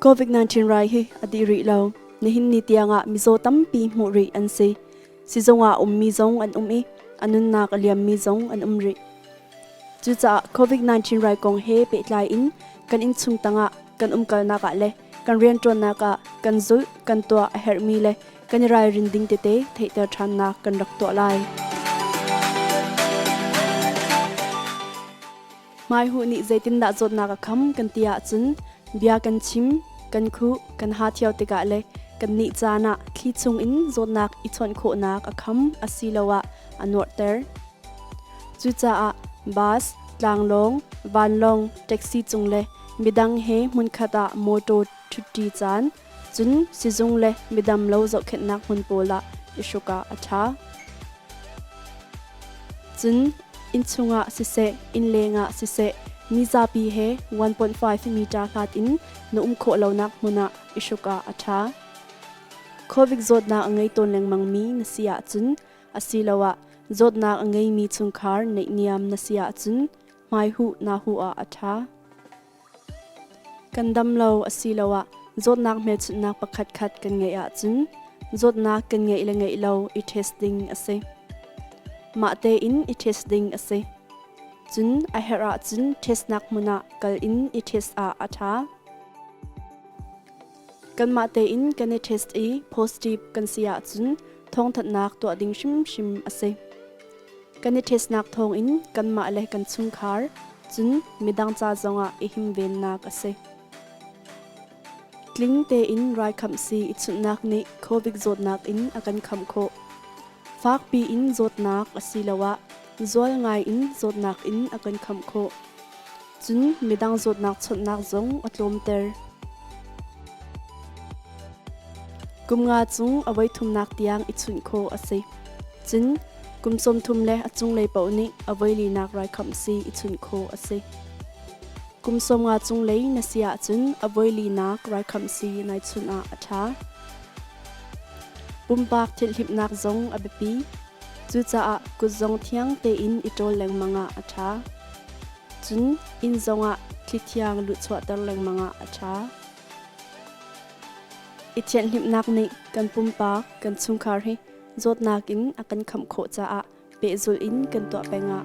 COVID-19 rai hi adi ri lo nihin ni tiangah mizaw tampi hmuh ri an si sizongah um mi zong an um i anunnak aliam mi zong an um ri cucaah COVID-19 rai kong he pehtlai in kan in chung tangah kan umkalnak ah le kan rianṭuannak ah kan zulh, kan tuah a herhmi le kan i ralrin ding tete theihter ṭhannak kan rak tuah lai. Hmaihuh nih zeitindah zawtnak a kham kan ti ahcun bia kan chim, kan khuh, kan ha thio tikah le kan nih caan ah thli chungin zawtnak i chawnh khawhnak a kham asiloah a nuarhter. Cucaah bus, tlanglawng, vanlawng, taxi cung le Midang he hmunkhat ah mawṭaw ṭhuṭi caan, cun sizung le midam lo zohkhenhnak hmun pawl ah i hruk ah a ṭha. Cun innchung ah siseh, innleng ah siseh, mi zapi he 1.5 meter hlat in na um khawh lonak hmun ah i hruk ah a ṭha. Covid zawtnak a ngei tawn lengmangmi na si ahcun asiloah zawtnak a ngeimi chungkhar neih niam na si ahcun hmaihuh nahu ah a ṭha. Kan dam lo asiloah zawtnak hmelchunhnak pakhatkhat kan ngeih ahcun zawtnak kan ngeih le ngeih lo i test ding a si. Mah tein i test ding a si. Cun a herh ahcun testnak hmun ah kal in i test ah a ṭha. Kanmah tein kan i test i positive kan si ahcun thawngthanhnak tuah ding hrimhrim a si. Kan i testnak thawngin kanmah le kan chungkhar, cun midang ca zongah i himvennak a si. Tling tein raikhamsi i chunhnak nih Covid zawtnak in a kan khamh khawh. Fakpi in zawtnak asiloah zual ngai in zawtnak in a kan khamh khawh. Cun midang zawtnak chawnhnak zong a tlawmter. Kum nga cung a voithumnak tiang i chunh khawh a si. Cun kum sawmthum le a cunglei paoh nih a voilinak raikhamh si i chunh khawh a si. Kum sawmnga cunglei na si ahcun a voilinak raikhamh si nai chunh ah a ṭha. Pumpak thilhlimnak zong a biapi. Cucaah kut zong thiang tein i ṭawl lengmang ah a ṭha. Cun inn zongah thlithiang luhchuahter lengmang ah a ṭha. I thianhhlimhnak nih kan pumpak, kan chungkhar hi zawtnak in a kan khamh khawh caah pehzul in kan tuah peng ah